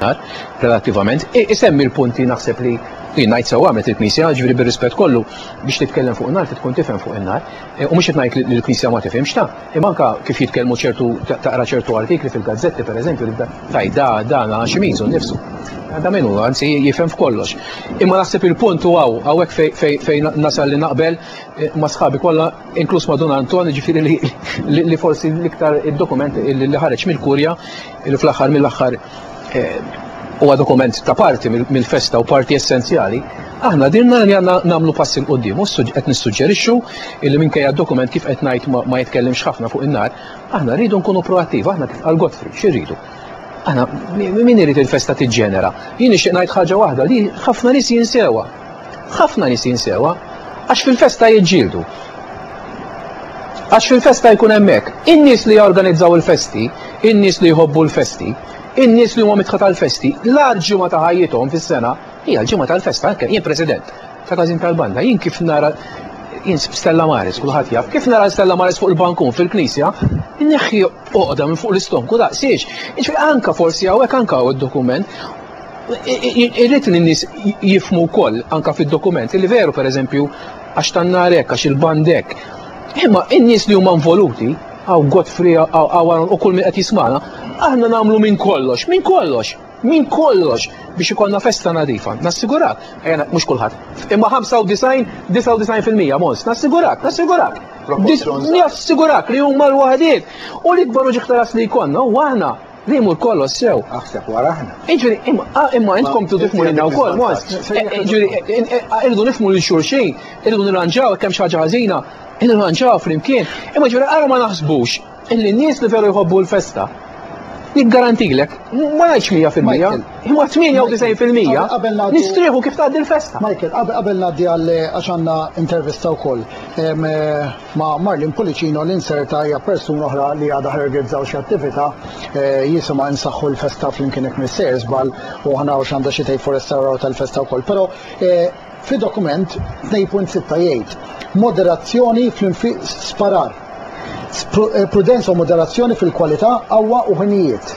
nar, relattivament, isemmi l-punti naħseb li jien ngħid sew għamlet il-Knisja, ġifieri bir-rispett kollu biex titkellem fuq in-nar tkun tifhem fuq in-nar, e, u mhux qed ngħid li l-Knisja ma tifhimx ta' imma anke kif jitkellmu ċertu taqra ċertu artikli fil-gazzetti pereżempju li taj da dan għax imisu nnifsu. Da minnu, anzi jifhem f'kollox. Imma naħseb il-punt u għaw, għawek fejn nasal li naqbel e, ma sħabi kollha inkluż ma' Dun Anton, ġifieri li forsi l-iktar id-dokument li ħareġ mill-kurja li fl-aħħar mill-aħħar huwa dokument ta' parti mill-festa u parti essenzjali, aħna dirna li għandna nagħmlu passi l qudiem u qed nissuġġerixxu li minkejja d-dokument kif qed ngħid ma jitkellimx ħafna fuq in-nar, aħna rridu nkunu proattiv, aħna kif għal Godfrey, xi rridu? Aħna min irid il-festa tiġġenera? Jien nixtieq ngħid ħaġa waħda li ħafna nies jinsewa. Ħafna nies jinsewha għax fil-festa jiġġieldu. Għax fil-festa jkun hemmhekk. In-nies li jorganizzaw il-festi, in-nies li jħobbu l-festi, in-nies li huma mitħa tal-festi, l-għar ġimgħa ta' ħajjithom fis-sena hija l-ġimgħa tal-festa anke jien President ta' każin tal-banda, jien kif nara jien Stella Maris, kulħadd jaf, kif nara Stella Maris fuq il-bankun fil-knisja, neħħi oqda minn fuq l-istonku daqsiex. Iġri anka forsi hawnhekk anka hawn id-dokument, Irrid li n-nies jifmu wkoll anka fid-dokument li veru pereżempju għax tan-nar hekk għax il-band hekk. Imma in-nies li huma involuti għaw Godfrey għaw u kull min qed jismana, aħna nagħmlu minn kollox, minn kollox, minn kollox biex ikollna festa nadifa. Nassigurak, ejja mhux kulħadd. Imma 95, 99% mons, nassigurak, nassigurak. Nassigurak li huma l-waħdiet. U l-ikbar uġiħ tal li jkollna u aħna Li jmur kollox sew. Aħseb wara aħna. Iġri, imma intkom tu tifmu l-inna u koll, mos. Iġri, irridu nifmu li xurxin, irridu nirranġaw, kem xaġa ħazina, nirranġaw fl-imkien. Imma ġuri, għara ma naħsbux, illi n-nis li veru jħobbu l-festa. Nikgarantilek, ma najċ 100%, imma 98% nistriħu kif taħdi l-festa. Michael, qabel naddi għal għaxanna intervista u koll. Eh, Ma' Marlene Pullicino li nserta hija persuna oħra li għadha ħrrgizzaw xi attività jisimha Insaħħu l-Festa Flimkien Jekk Missejr Żball u ħa naraw x'għandha xi tgħid fuq restawrar tal-festa wkoll. Però fid-dokument 2.6 jgħid, Moderazzjoni fl-infiq Sparar, prudenza u moderazzjoni fil-kwalità, qawwa u ħinijiet.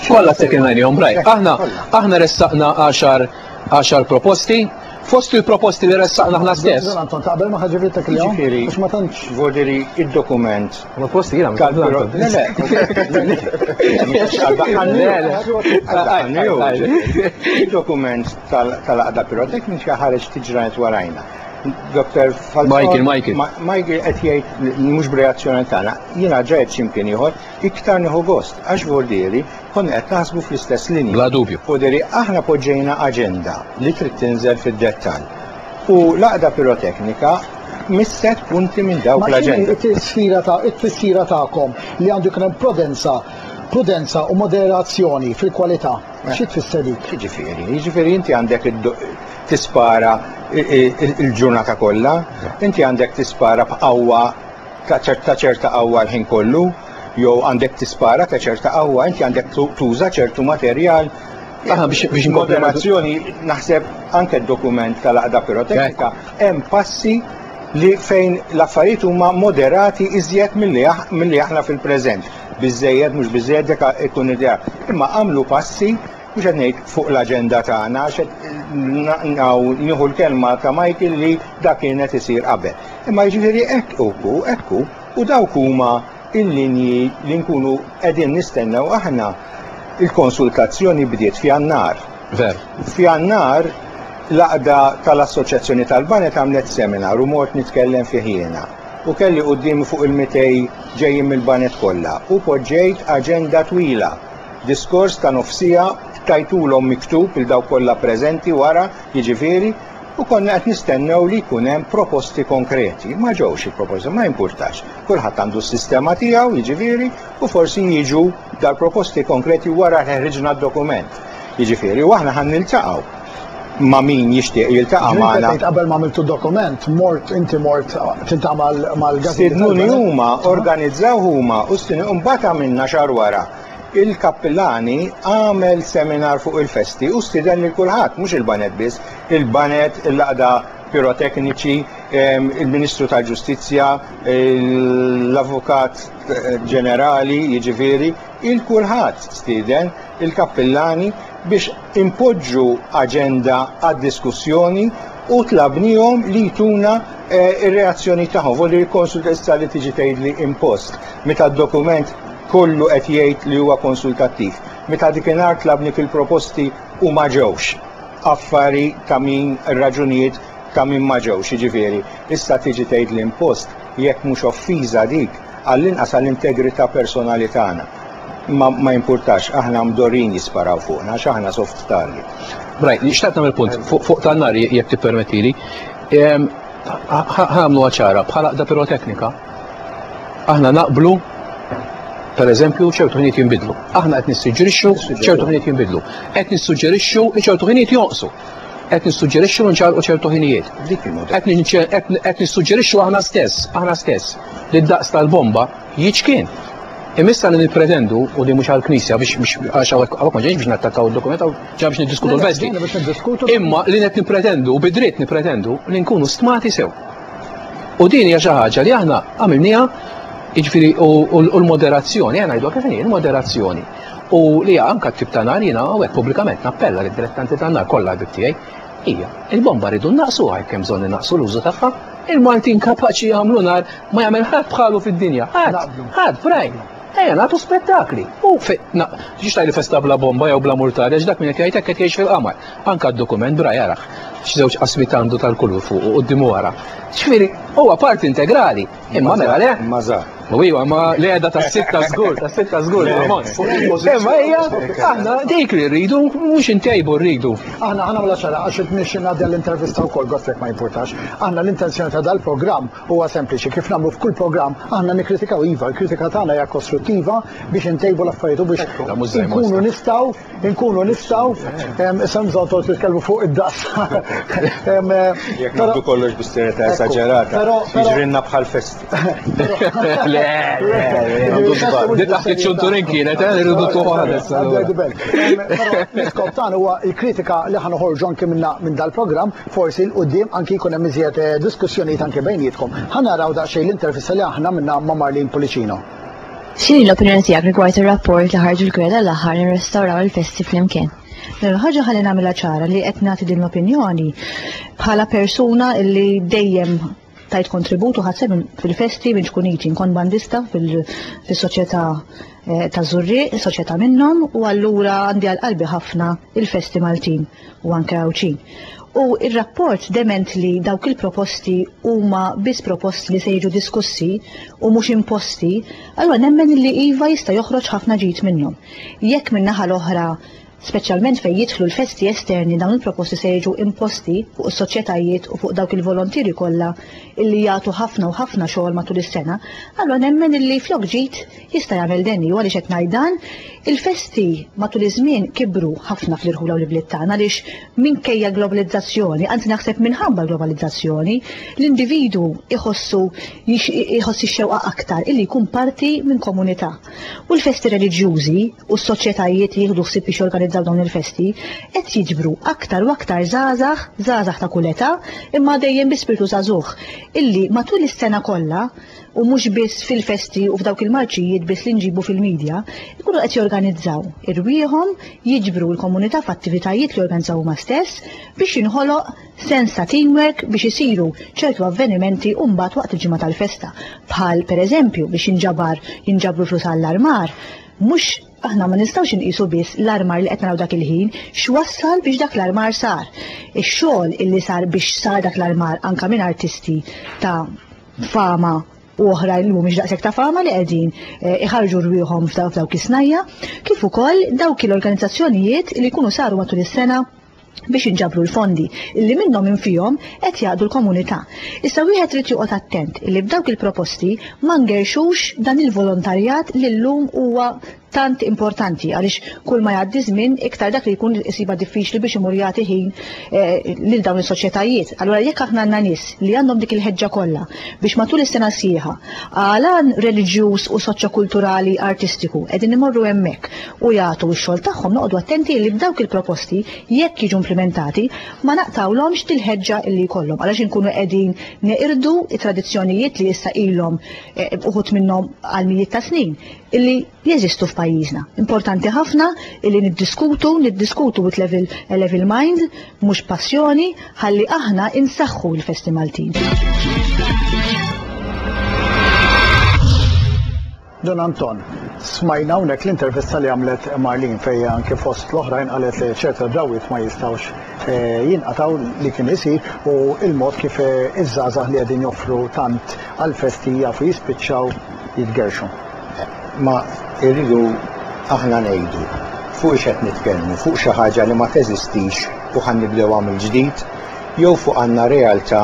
Kollha Second Line Home Right. Aħna ressaqna għaxar għaxar proposti, fost il-proposti li ressaqna aħna stess. Zon Anton, taqbel ma ħagġi vittek li għom? Ġifiri, ma tantx. Vodiri, il-dokument. Ma posti jina, ma tantx. Le, le, Il-dokument tal-għada piroteknika ħareġ tiġranet warajna. Dr. Falzon. Michael, Michael. Michael qed jgħid mhux b'reazzjoni tagħna. Jiena ġajt x'imkien ieħor iktar nieħu gost għax vordieri Konna qed naħsbu fl-istess linji. Bla dubju. U deri aħna poġġejna aġenda li trid tinżel fid-dettall. U l-għaqda piroteknika misset punti minn dawk l-aġenda. Ma t-tisfira ta' it-tifsira tagħkom li għandu jkun hemm prudenza prudenza u moderazzjoni fil-kwalità. Eh. Xi tfisser dik? Jiġifieri, jiġifieri inti għandek tispara il-ġurnata kollha, inti għandek tispara b'qawwa ta' ċerta qawwa l-ħin kollu, jew għandek tispara ta' ċerta qawwa, inti għandek tuża ċertu materjal Aħna biex biex moderazzjoni naħseb anke d-dokument tal-għaqda piroteknika hemm passi li fejn l-affarijiet huma moderati iżjed milli aħna fil-preżent. Biżejjed mhux biżejjed deka ikun idea. Imma għamlu passi mhux qed ngħid fuq l-aġenda tagħna għax nieħu l-kelma ta' Michael li dak kienet isir qabel. Imma jiġifieri hekk uku, hekk U dawk huma l-linji li nkunu qegħdin nistennew aħna. Il-konsultazzjoni bdiet f'Jannar. Vera. F'Jannar l-għaqda tal-Assoċjazzjoni tal-Baned għamlet seminar u mort nitkellem fih jiena. U kelli quddiemi fuq il-mitej ġejjin mill-baned kollha u poġġejt aġenda twila, diskors ta' nofsiegħa, tajtulhom miktub lil dawk kollha preżenti wara, jiġifieri, U konna qed nistennew li jkun hemm proposti konkreti. Ma ġewx il-proposti, ma jimpurtax. Kulħadd għandu s-sistema tiegħu, jiġifieri, u forsi jiġu dal-proposti konkreti wara li ħriġna d-dokument. Jiġifieri, u aħna ħan niltaqgħu ma' min jixtieq jiltaqa' magħna. Qabel ma għamiltu dokument, mort inti mort tiltaqa' mal-gazzetta. Stidnuni huma, organizzaw huma u stidnuni u mbagħad għamilna xahar wara. Il-kappilani għamel seminar fuq il-festi u stieden lil kulħadd, mhux il-baned biss, il-baned, il-laqda pirotekniċi, ehm, il-Ministru tal-Ġustizzja, l-Avukat Ġenerali, jiġifieri, il kulħadd stieden il-kappillani biex impoġġu aġenda għad-diskussjoni u tlabnihom li jtuna eh, ir-reazzjoni tagħhom, volli l-konsultessa li tiġi tgħidli impost. Meta d-dokument Kollu qed jgħid li huwa konsultattiv. Meta dik inhar tlabni fil-proposti u ma ġewx. Affari ta' min raġunijiet ta' min ma ġewx, jiġifieri, issa tiġi tgħid li impost, jekk mhux offiża dik, għall-inqas għall-integrità personali tagħna. Ma ma jimpurtax, aħna mdorrijin jisparaw fuqna għax aħna soft target. Brian, xtaqt nagħmel punt fuq fuq tan-nar jekk tippermettili. Ħa nagħmluha ċara, bħal għaqda pirotecnica, Aħna naqblu per eżempju, ċertu ħiniet jinbidlu. Aħna qed nissuġġerixxu ċertu ħiniet jinbidlu. Qed nissuġġerixxu li ċertu ħiniet jonqsu. Qed nissuġġerixxu nċarqu ċertu ħinijiet. Qed nissuġġerixxu aħna stess, aħna stess, li d-daqs tal-bomba jiċkien. Imissa li nipretendu u li mhux għall-Knisja biex għax hawnhekk ma ġejx biex nattakkaw id-dokument għaw ġa biex niddiskutu l-vesti. Imma li qed nipretendu u bidriet nipretendu li nkunu stmati sew. U din hija xi ħaġa li aħna għamilniha jiġifieri u l-moderazzjoni, għana jgħidu kif inhi, l-moderazzjoni. U li anka t-tip ta' nar jiena għawek pubblikament nappella li dilettanti ta' nar kollha bib tiegħi. Hija, il-bomba rridu naqsu għajk kemm bżonn naqsu l-użu tagħha. Il-Maltin kapaċi jagħmlu nar ma jagħmel ħadd bħalu fid-dinja. Ħadd, ħadd, brajn. Ejja nagħtu spettakli. U ġiex tajli festa bla bomba jew bla murtari, dak minn qed jgħid hekk qed jgħix fil-qamar. Anke d-dokument b'ra jarah x'żewġ qasmiet għandu tal-kulur fuq u quddiem u wara. Ġifieri huwa parti integrali. Imma mela le. Imma żgħar. U iva, ma l-għeda tas-sitta żgur, tas-sitta żgur l-ammont. Imma hija aħna dik li rridu mhux intejbu rridu. Aħna aħna mela ċara għax qed nixxi ngħaddi għall-intervista wkoll gost jekk ma jimpurtax. Aħna l-intenzjoni ta' dal-programm huwa sempliċi kif nagħmlu f'kull programm aħna nikkritikaw iva, l-kritika tagħna hija kostruttiva biex intejbu l-affarijiet u biex inkunu nistgħu Inkunu nistgħu, isem żgħotor titkellmu fuq id-daqs. Jekk nagħdu kollox bi serjetà esaġerata, jiġrilna bħal festi. Le, le, le. Di taħt iċ-ċunturin kienet, eh, irridu tuħu ħares. L-iskop tagħna huwa l-kritika li ħa noħorġu anke minna minn dal-programm, forsi l qudiem anke jkun hemm iżjed eh, diskussjonijiet anke bejnietkom. Ħa naraw daqsxejn l-intervista li aħna minna ma' Marlin Policino. X'inhi l-opinjoni tiegħek rigward ir-rapport li ħarġu l-kura tal-aħħar nirrestawraw il-festi flimkien? Mela ħaġa ħalli nagħmilha ċara li qed nagħti din l-opinjoni bħala persuna li dejjem tajt kontribut u ħadseb fil-festi minn tkun iġi nkun bandista fis-soċjetà eh, ta' Zurriq, soċjetà minnhom u allura għandi għal qalbi ħafna il-festi Maltin. u anke Għawdxin. U r-rapport dement li dawk il-proposti huma biss proposti li se jiġu diskussi u mhux imposti, allura nemmen li iva jista' joħroġ ħafna ġid minnhom. Jekk min-naħa l-oħra, speċjalment fejn jidħlu l-festi esterni dawn il-proposti se jiġu imposti fuq is-soċjetajiet u fuq dawk il-volontieri kollha illi jagħtu ħafna u ħafna xogħol matul is-sena, allura nemmen illi flok ġid Jista' jagħmel denju, u għaliex qed ngħid dan, il-festi matul iż-żmien kibru ħafna fl-irħula u l-ibliet tagħna għaliex minkejja l-globalizzazzjoni, anzi naħseb minħabba l-globalizzazzjoni, l-individwu jħossu jħoss ix-xewqa aktar illi jkun parti minn komunità. U l-festi reliġjużi u s-soċjetajiet li jieħdu ħsieb biex jorganizzaw dawn il-festi qed jiġbru aktar u aktar żgħażagħ, żgħażagħ ta' kull età, imma dejjem bi spirtu żagħżugħ, illi matul is-sena kollha, u mhux biss fil-festi u f'dawk il-marċijiet biss li nġibu fil-midja, ikunu qed jorganizzaw irwieħhom, jiġbru l-komunità f'attivitajiet li jorganizzaw huma stess biex jinħoloq sens ta' teamwork biex isiru ċertu avvenimenti u mbagħad waqt il-ġimgħa tal-festa. Bħal, pereżempju, biex jinġabar jinġabru l-flus għall-armar. Mhux, aħna ma nistgħux inqisu biss l-armar li qed naraw dak il-ħin, x'wassal biex dak l-armar sar. Ix-xogħol illi sar biex sar dak l-armar anke minn artisti ta' fama u oħrajn li mhumiex daqshekk ta' fama li qegħdin eh, iħarġu rwieħhom f'dawk is-snajja, kif ukoll dawk l-organizzazzjonijiet li jkunu saru matul is-sena biex inġabru l-fondi illi minnhom infihom qed jaqdu l-komunità. Issa wieħed trid joqgħod attent illi b'dawk il-proposti ma ngerxux dan il-volontarjat li llum huwa tant importanti għaliex kull ma jgħaddi żmien iktar dak li jkun isiba diffiċli biex imur jagħti ħin eh, lil dawn is-soċjetajiet. Allura jekk aħna għandna nies li għandhom dik il-ħeġġa kollha biex matul is-sena sħiħa għalan reliġjuż u soċjokulturali artistiku qegħdin imorru hemmhekk u jagħtu x-xogħol tagħhom noqogħdu attenti li b'dawk il-proposti jekk jiġu implementati ma naqtawlhomx dil-ħeġġa li jkollhom għalax inkunu qegħdin neqirdu it-tradizzjonijiet li issa ilhom eh, uħut minnhom għal mijiet ta' snin illi jeżistu f'pajjiżna. Importanti ħafna illi niddiskutu, niddiskutu with level, a level mind, mhux passjoni, ħalli aħna insaħħu l-festi Maltin. Don Anton, smajna unek l-intervista li għamlet Marlin fejja anke fost l-oħrajn għalet li ċerta drawit ma jistawx eh, jinqataw li kien isir u il-mod kif eh, iż-żazah li għedin joffru tant għal-festija fu jispiċċaw jitgerrxu. Ma irridu aħna ngħidu fuq ix qed nitkellmu, fuq xi ħaġa li ma teżistix u ħa nibdewha mill-ġdid jew fuq għandna realtà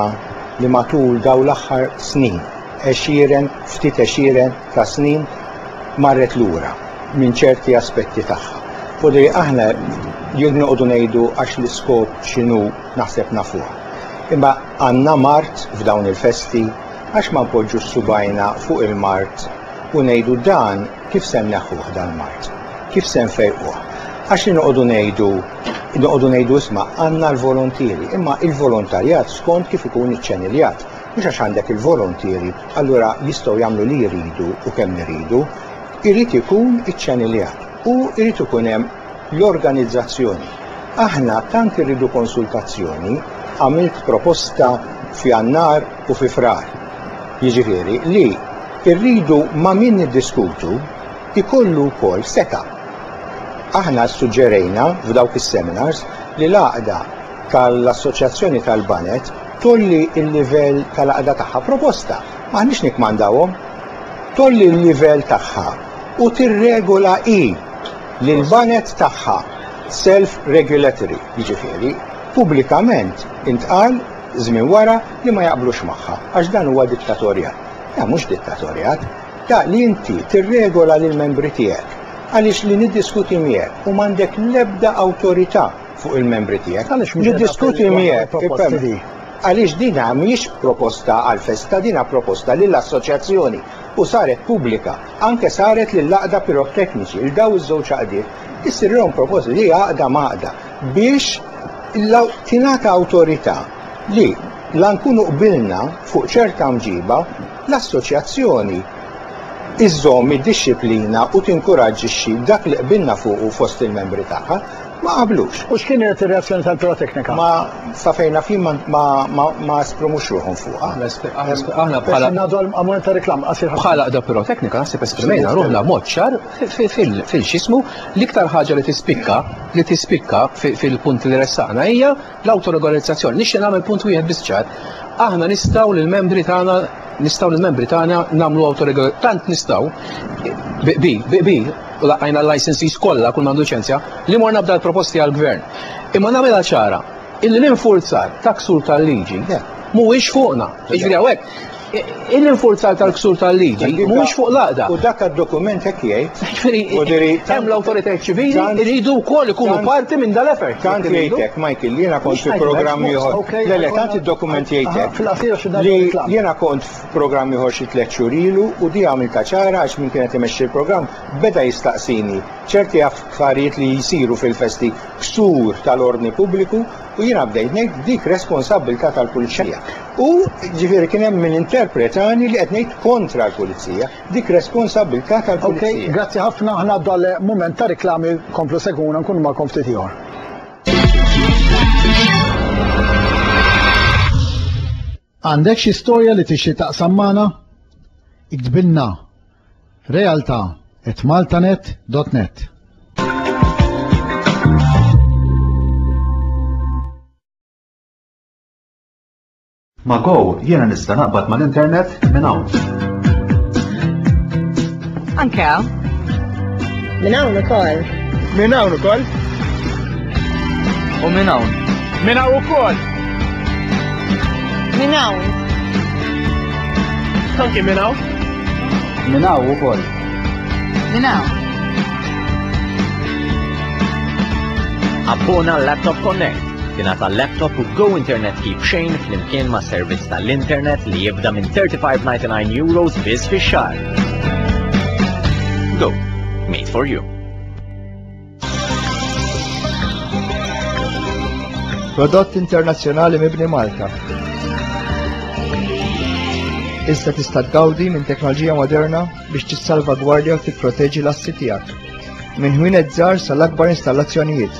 li matul dawn l-aħħar snin, għexieren, ftit għexieren ta' snin marret lura minn ċerti aspetti tagħha. U li aħna jekk noqogħdu ngħidu għax l-iskop x'inhu naħseb nafuha. Imma għandna mard f'dawn il-festi, Għax ma npoġġux subgħajna fuq il-mard u ngħidu dan kif se nneħħuh dal-mard? Kif se nfejquh? Għax li noqogħdu ngħidu, noqogħdu ngħidu isma' għandna l-volontieri, imma il-volontarjat skont kif ikun iċċeniljat. Mhux għax għandek il-volontieri allura jistgħu jagħmlu li jridu u kemm iridu. Irid ikun iċċeniljat u irid ikun hemm. l-organizzazzjoni. Aħna tant irridu konsultazzjoni, għamilt proposta f'Jannar u fi Frar. Jiġifieri li rridu ma' min niddiskutu jkollu wkoll setgħa. Aħna ssuġġerejna f'dawk is-seminars li l-għaqda tal-Assoċjazzjoni tal-Baned tgħolli l-livell tal-għaqda tagħha. Proposta, m'aħniex nikkmandawhom. Tgħolli l-livell tagħha u tirregola hi. li l-banek tagħha self-regulatory, jiġifieri pubblikament intqal żmien wara li ma jaqblux magħha, għax dan huwa dittatorjat. Le, mhux dittatorjat. Da li inti tirregola lill-membri tiegħek għaliex li niddiskuti miegħek u m'għandek l-ebda awtorità fuq il-membri tiegħek. Għaliex mhux niddiskuti miegħek għaliex din mhijiex proposta għall-festa, din proposta lill-assoċjazzjoni. u saret pubblika, anke saret lill-Għaqda Pirotekniċi, lil dawn iż-żewġ għaqdiet, issirlhom proposta li għaqda m'għaqda biex tingħata awtorità li la nkunu qbilna fuq ċerta mġiba, l-assoċjazzjoni żżomm id-dixxiplina u tinkuraġġixxi dak li qbilna fuqu fost il-membri tagħha. ma qablux. U x'kienet ir-reazzjoni tal-Buro Teknika? Ma sa fejn naf jien ma esprimux ruħhom fuqha. Aħna bħala ngħadu għall-moment ta' reklam qasir ħafna. Bħala qda Buro Teknika naħseb esprimejna ruħna b'mod ċar fil-x'ismu l-iktar ħaġa li tispikka li tispikka fil-punti li ressaqna hija L-awtoregorizzazzjoni, nixtieq nagħmel punt wieħed biss ċar. Aħna nistgħu lill-membri tagħna nistgħu lill-membri tagħna nagħmlu awtoregol tant nistgħu bi bi u laqajna l-licensees kollha kull m'għandu ċenzja li morna b'dal proposti għall-gvern. Imma nagħmilha ċara illi l-infurzar ta' ksur tal-liġi mhuwiex fuqna. Jiġri hawnhekk Il-infurzar tal-ksur tal-liġi mhux fuq l-għaqda. U dak għad-dokument hekk jgħid. Jiġifieri hemm l-awtoritajiet ċivili jridu wkoll ikunu parti minn dal-effort. Tant jgħidlek Michael li jiena kont fi programm ieħor. Le le tant id-dokument jgħidlek. Li jiena kont f'programm ieħor xi tliet xhur ilu u di għamilta ċara għax min kienet imexxi l-programm beda jistaqsini ċerti affarijiet li jsiru fil-festi ksur tal-ordni pubbliku U jiena bdejt ngħid dik responsabbiltà tal-pulizija. U ġifieri kien hemm min interpretani li qed ngħid kontra l-pulizija. Dik responsabbiltà tal-pulizija. Okej, grazzi ħafna, aħna għaddu għal mument ta' riklami, komplu segwuna nkunu magħkom ftit ieħor. Għandek xi storja li tixtieq taqsam magħna? Iktbilna Realtà at maltanet.net Ma' Go jiena nista' naqbad mal-internet minn hawn. Anke hawn. Minn hawn ukoll. Minn hawn ukoll. U minn hawn. Minn hawn ukoll. Minn hawn. Anke minn hawn. Minn hawn ukoll. Minn hawn. Abbona Laptop Connect tina ta' laptop u go internet kif xejn flimkien ma' servizz tal-internet li jibda minn 35.99 euros biss fi xar. Go, made for you. Prodott internazzjonali mibni Malta. Issa tista' tgawdi minn teknoloġija moderna biex tissalvagwardja u tipproteġi l-assi tiegħek. Minn ħwienet żgħar sal-akbar installazzjonijiet